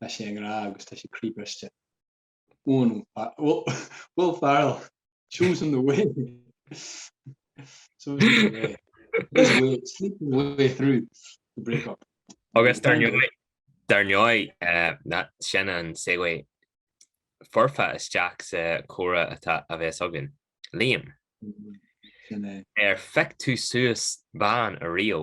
Tá sé i ngrá agus tá sé croíbhriste. Owen, Will Ferrell shows him the way shows him the way his way sleeping the way through the breakup agus dar ndóigh dar ndóigh ná sin an segue foirfe isteach sa chomhrá atá a bheith againn Liam ar feic tú suas bán a río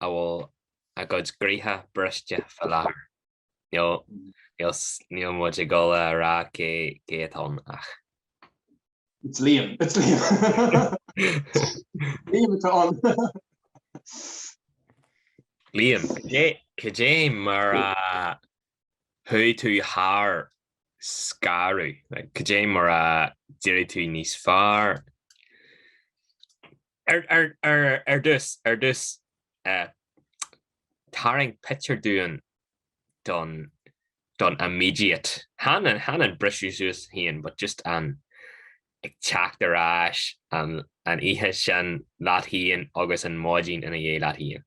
a bhfuil a gcuid croíthe briste faoi láthair. Níl muid ag dul a rá cé atá ann ach. It's Liam. It's Liam. Liam atá ann. Liam, cad é mar a chuaigh tú thar scaradh? Cad é mar a d'éirigh tú níos fearr? Ar dtús, ar dtús, tarraing pictiúr dúinn don, don immediate, chan an, chan an briseadh suas féin but just an ag teacht ar ais, an, an oíche sin leat féin agus an mhaidin ina dhiaidh leat féin.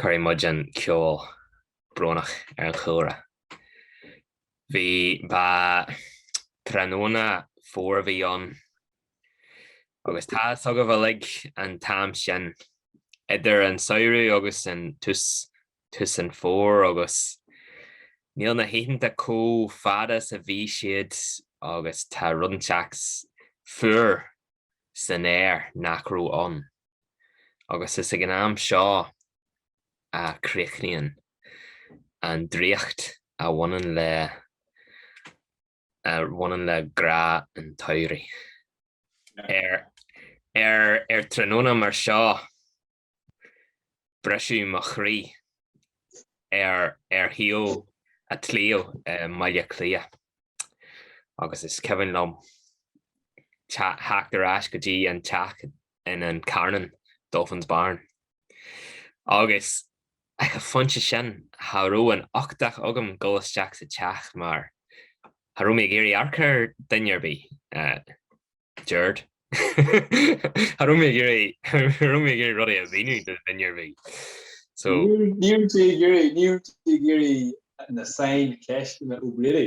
Cuirfidh muid an ceol brónach ar an chúlra. Bhí ba tráthnóna fómhair a bhí ann agus tá a fhios agaibh uilig an t-am sin idir an samhradh agus an tús tús an fhómhair agus níl na hoícheanta chomh fada is a bhí siad agus tá rud inteacht fuar san aer nach raibh ann. agus is ag an am seo a chríochnaíonn an draíocht a bhaineann le a bhaineann le grá an tsamhraidh. Ar ar ar tráthnóna mar seo briseadh mo chroí ar ar thaobh an tslí i mBaile Átha Cliath agus is cuimhin liom teacht ar ais go dtí an teach in An Carnán, Dolphin's Barn. Agus ag an phointe sin cha raibh an t-uchtach agam dul isteach sa teach mar cha raibh mé ag iarraidh amharc ar duine ar bith. Deird. Cha raibh mé ag iarraidh cha raibh mé ag iarraidh rudaí a mhíniú do duine ar bith. So Ní raibh tú ag iarraidh ní raibh tú ag iarraidh na saincheisteanna ó bléirí.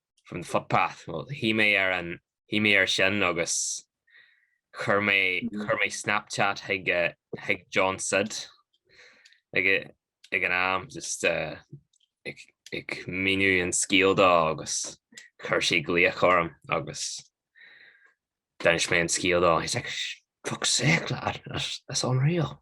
from the footpath, well shuigh mé ar an, shuigh mé ar sin agus chuir mé, chuir mé Snapchat chuig eh, chuig John Sid ag eh, ag an am just eh, ag, ag míniú an scéal dó agus chuir sé glaoch orm agus d'inis mé an scéal dó, he's like, fuck's sake lad, that's, that's unreal.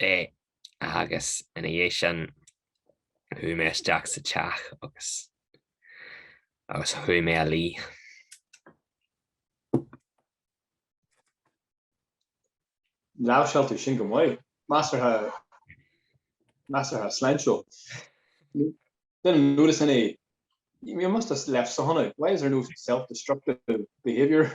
é agus ina dhiaidh sin chuaigh mé isteach sa teach agus agus chuaigh mé a luí. Láimhseáil tú sin go maith. Measartha sláintiúil. Duine mór is ina dhiaidh. You must have left something out. Why is there no self-destructive behaviour?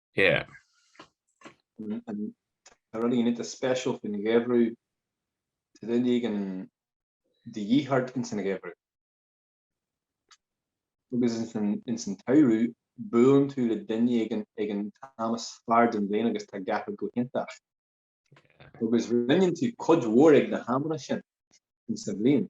Yeah. Tá rud inteacht speisialta faoin gheimhreadh tá duine éigin de dhíth ort ins an gheimhreadh? Agus ins an ins an tsamhradh buann tú le duine éigin ag an t-am is fearr den bhliain agus tá gach rud go hiontach. Agus roinneann tú cuid mhór de na hamanna sin ins an bhliain.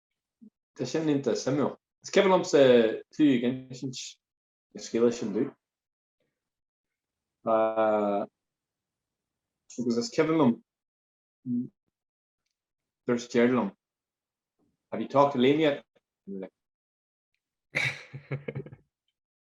Tá sin iontach suimiúil. Is cuimhin liomsa tú ag insint na scéalta sin dúinn. Agus is cuimhin liom gur scairt tú orm. Have you talked to Liam yet?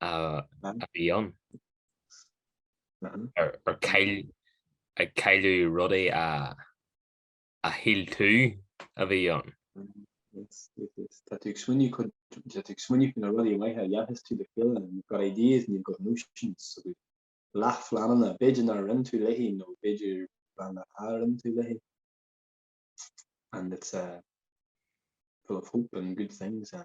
a bhí ann ar chailleadh rudaí a shíl tú a bhí ann. Tá tú ag smaoineamh cuid tá tú ag smaoineamh faoi na rudaí maithe a dhéanfas sibh le chéile and you've got ideas and you've got notions agus leath phleananna b'fhéidir nár roinn tú léi nó b'fhéidir pleananna a roinn tú léi and it's full of hope and good things and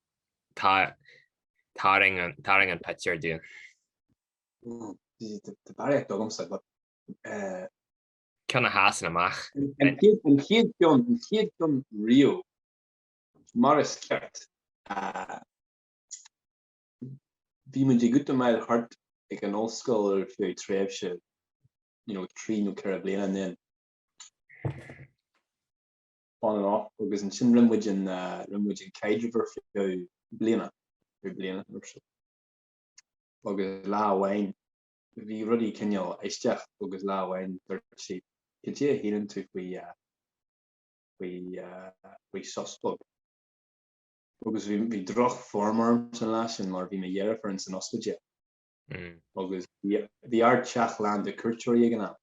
Tarraing an pictiúr dúinn. Tá barraíocht agamsa but eh. Ceann a sheasann amach. An chéad cheann, an chéad cheann riamh, mar is ceart, eh, bhí muid ag útamáil thart ag an ollscoil ar feadh tréimhse, you know, trí nó ceithre bliana ansin. on and off, agus ansin rinne muid an rinne muid an caidreamh ar feadh bliana nó bliana nó so agus lá amháin bhí rudaí cineál aisteach agus lá amháin dúirt sí cad é a shíleann tú faoi faoi faoi sos beag? agus bhí bhí droch form orm san lá sin mar bhí mo dheirfiúr ins an ospidéal agus bhí bhí ár teach lán de chuairteoirí ag an am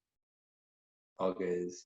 agus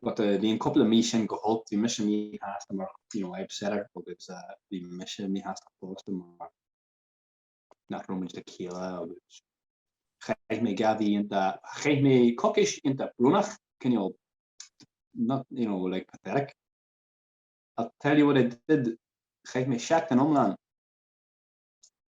But eh, bhí an cúpla mí sin go holc, bhí mise míshásta mar you know, I upset her agus eh, bhí mise míshásta fosta mar nach raibh muid le chéile agus chaith mé dhá mhí iontach, chaith mé coicís iontach brónach, cineál, not, you know, like pathetic. I'll tell you what I did, chaith mé seachtain iomlán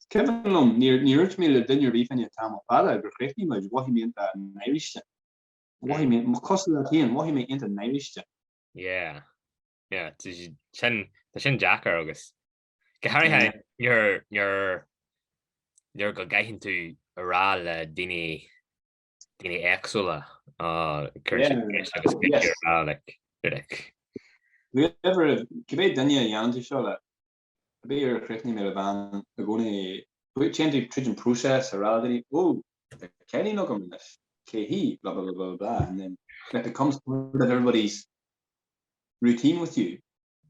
Is cuimhin liom, níor dhúirt mé le duine ar bith fá choinne tamall fada gur chríochnaigh muid, mhothaigh mé iontach náirithe. Mhothaigh mé, cosúil leat féin, mhothaigh mé iontach náirithe. Yeah, yeah, tá sin, tá sin deacair agus go háirithe nuair, nuair, nuair go gcaitheann tú a rá le daoine, daoine éagsúla, cuir siad tar éis agus bíonn siad ag rá like, like. Whoever, cibé duine a dhéanann tú seo le, Bíodh ar chríochnaigh mé le bean i gcónaí, bhuel téann tú tríd an próiseas a rá daoine, Ó, tá cailín agam anois, cé hí? blah blah blah blah blah and then it becomes part of everybody's routine with you,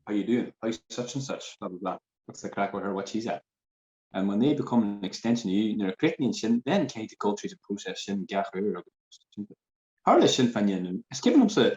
how you doing? how's such and such? blah blah blah what's the crack with her? what's she at? and when they become an extension of you, nuair a chríochnaíonn sin, then you kind of go tríd an próiseas sin gach uair agus, tá sin pianmhar, is cuimhin liomsa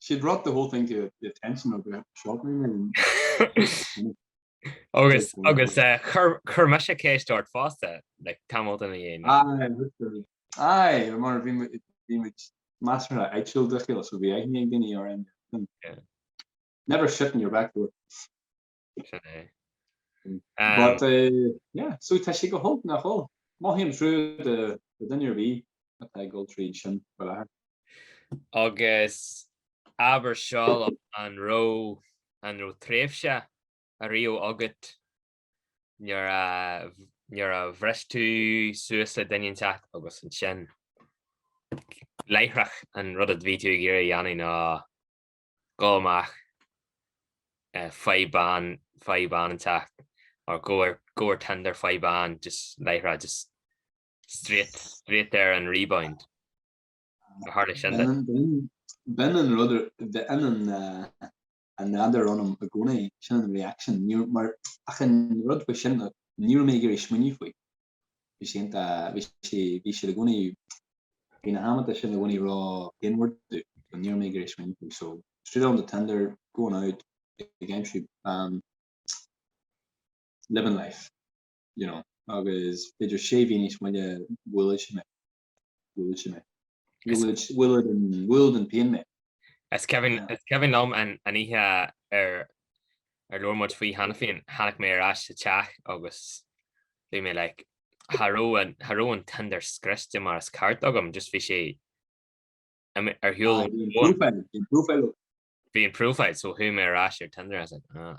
She brought the whole thing to the attention of the children and Agus agus eh, chur me sé céist ort fásta le tamil in dhéana. Aye mar bhí muid measartha dlúth dá chéile so bhí aithne ag daoine ar Never shit in your back door. Sin é. But yeah, so tá sé go holc nach bhfuil. Mothaím trua do duine ar bith atá ag dul tríd sin go láthair. Agus abair seo liom an raibh an raibh tréimhse ariamh agat nuair a nuair a bhris tú suas le duine inteacht agus ansin láithreach an rud a bhí tú ag iarraidh a dhéanamh ná gabh amach. Faigh bean, faigh bean inteacht or go ar, go ar Tinder faigh bean just láithreach just straight, straight ar an rebound. Ar tharla sin duit? B'in an rud, b'in an an nádúr ionam i gcónaí, sin an reaction. Níor, mar achan rud faoi sin, ní raibh mé ag iarraidh smaoineamh faoi. bhí sé iontach bhí sé bhí sé i gcónaí bhí na hamanta sin i gcónaí ró-inward dom ní raibh mé ag iarraidh smaoineamh faoi so straight on to Tinder going out ag aimsiú bean living life you know agus b'fhéidir sé mhí níos moille bhuail sé mé Bhuail sé mé. Bhuail an pian mé. Is cuimhin liom an oíche ar labhair muid faoi cheana féin, tháinig mé ar ais sa teach agus bhí mé like, cha raibh an Tinder scriosta mar is ceart agam, just bhí sé ar shiúl ón bhfón. Bhí an profile up. Bhí an profile, so chuaigh mé ar ais ar Tinder, I was like, ah.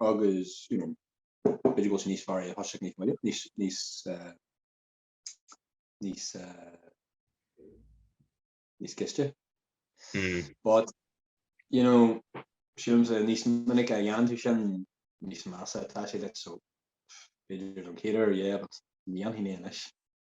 agus you know b'fhéidir go bhfuil sé níos fearr é a thoiseacht níos moille,, níos níos níos níos gaiste. Mm. But you know sílimse níos minice a dhéanann tú sin níos measa atá sé duit so b'fhéidir don chéad uair yeah but ní dhéanfaidh mé anois.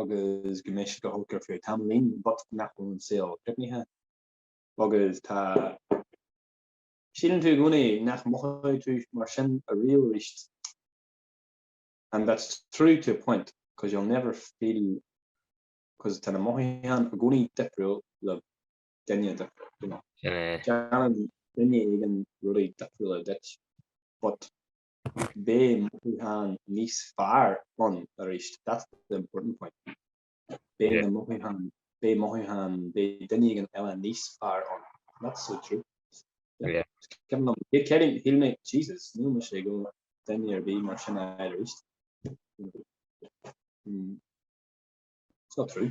agus go mbeidh sé go holc ar feadh tamaill but nach bhfuil an saol críochnaithe agus tá sílann tú i gcónaí nach mothóidh tú mar sin aríamh arís and that's true to a point because you'll never feel because tá na mothúcháin i gcónaí difriúil le duine difriúil déanann duine éigin rudaí difriúla duit but Beidh mothúcháin níos fearr ann arís, that's the important point. Beidh na mothúcháin, beidh mothúcháin, beidh duine éigin eile níos fearr ann. That's so true. Yeah. Cionn 's, hé Kevin, shíl mé, Jesus, níl mise go duine ar bith mar sin arís. It's not true.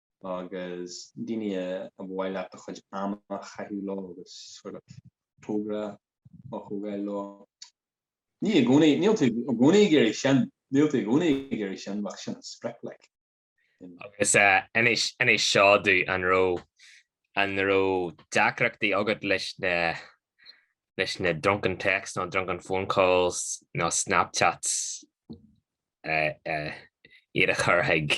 agus daoine ar mhaith leat do chuid ama a chaitheamh leo agus sort of togra a thógáil leo. Ní i gcónaí, níl tú i gcónaí ag iarraidh sin, níl tú i gcónaí ag iarraidh sin bheadh sin an sprioc like. Agus inis seo dúinn an raibh, an raibh deacrachtaí agat leis na, leis na drunken texts nó drunken phone calls nó snapchats iad a chur chuig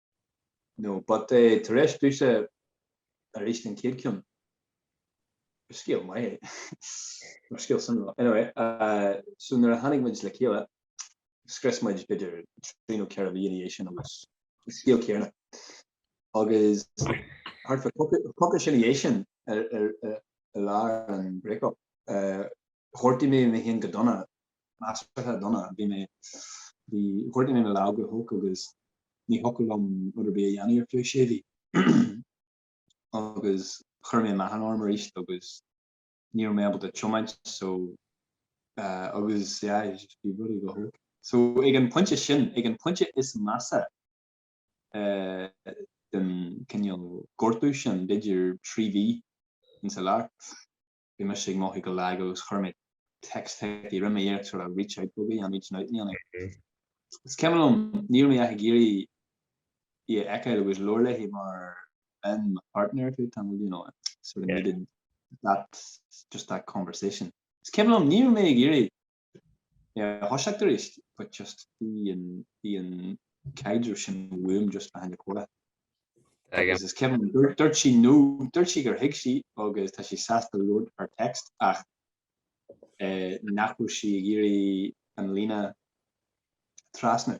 No but eh, tar éis domhsa arís den chéad ceann, ba scéal maith é, mar scéal sona. Anyway, eh, so nuair a tháinig muid le chéile, scar muid b'fhéidir trí nó ceithre mhí ina dhiaidh sin agus scéal céanna. Agus thart fá coicís ina dhiaidh sin, ar, ar, ar, ar lá an break-up, eh, ghortaigh mé mé féin go dona measartha dona. Bhí mé, bhí, ghortaigh mé mo lámh go holc agus ní thiocfadh liom rud ar bith a dhéanamh ar feadh sé mhí. Agus chuir mé meáchan orm arís agus ní raibh mé ábalta tiomáint so eh, agus yeah, like just bhí rudaí go holc. So ag an pointe sin, ag an pointe is measa eh, den cineál gortú sin, b'fhéidir trí mhí ins an lár, bhí mise ag mothú go lag agus chuir mé text chuici rinne mé iarracht sort of reach out buggy on reaching out in ann é. Is cuimhin liom, ní raibh mé ach ag iarraidh í a fheiceáil agus labhairt léi mar bheinn mo partner tú tamall you know I sort of needed that just that conversation. Is cuimhin liom, ní raibh mé ag iarraidh Yeah thoisigh tú arís but just bhí an caidreamh sin uaim just le hAine Cora agus is cuimhin liom dúirt sí nó dúirt sí gur thuig sí agus tá sí sásta labhairt ar text ach eh, nach bhfuil sí ag iarraidh an líne a thrasnú.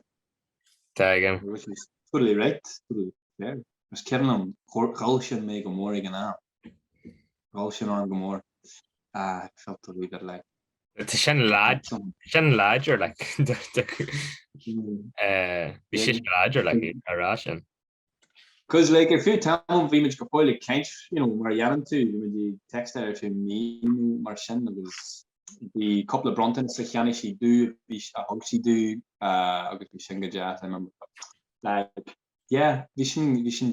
Tuigim. Which is totally right, totally fair. Is cuimhin liom ghoill sin orm go mór ag an am. Ghoill sin orm go mór I felt a wee bit like. Sin láidir le bhí sé sin láidir le a rá sin. Cos like ar feadh tamaill bhí muid go fóill ag caint you know mar a dhéanann tú bhí muid ag textáil ar feadh mí nó mar sin agus bhí cúpla bronntanas a cheannaigh sí domh a thug sí domh agus bhí sin go deas I remember like yeah bhí sin bhí sin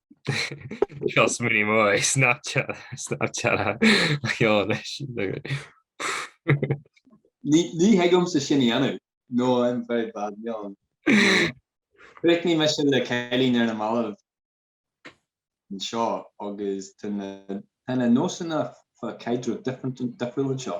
Seo smúní mó é Ní thig liomsa sin a dhéanamh nó I'm very bad meán. Chríochnaigh mise le cailín ar na mallaibh anseo agus tá na nósanna fá caidreamh difriúil anseo.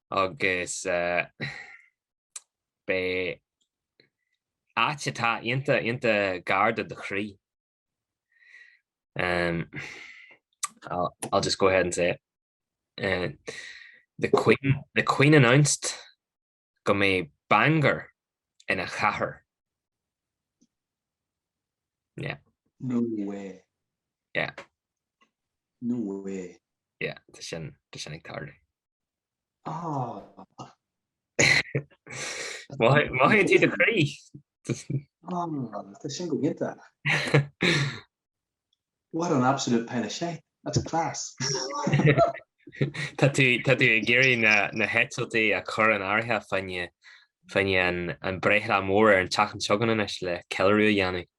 agus beidh áit atá ionta, ionta gar do do chroí. I'll just go ahead and say it, the Queen, the Queen announced go mbeidh Bangor ina chathair. Yeah. No way. Yeah. No way. Yeah, tá sin, tá sin ag tarlú. Maith an tír do chroí. Tá sin go hiontach. What an absolute pile of shite. That's class. Tá tú ag iarraidh na heitiltí a chur in áirithe fá choinne an bhreithlá mór ar an tseachtain seo chugainn anois le ceiliúradh a dhéanamh.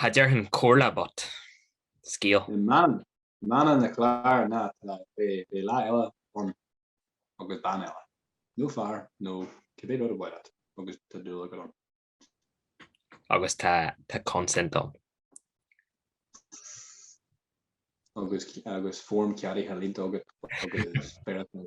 Cha déarfainn comhairle but scéal. I mbeagán focal is cinnte nach ná beidh lá eile ann agus bean eile nó fear nó cibé rud is maith leat agus tá dúil agat ann. Agus tá consent ann. Agus form ceadaithe líonta agat agus beirt nó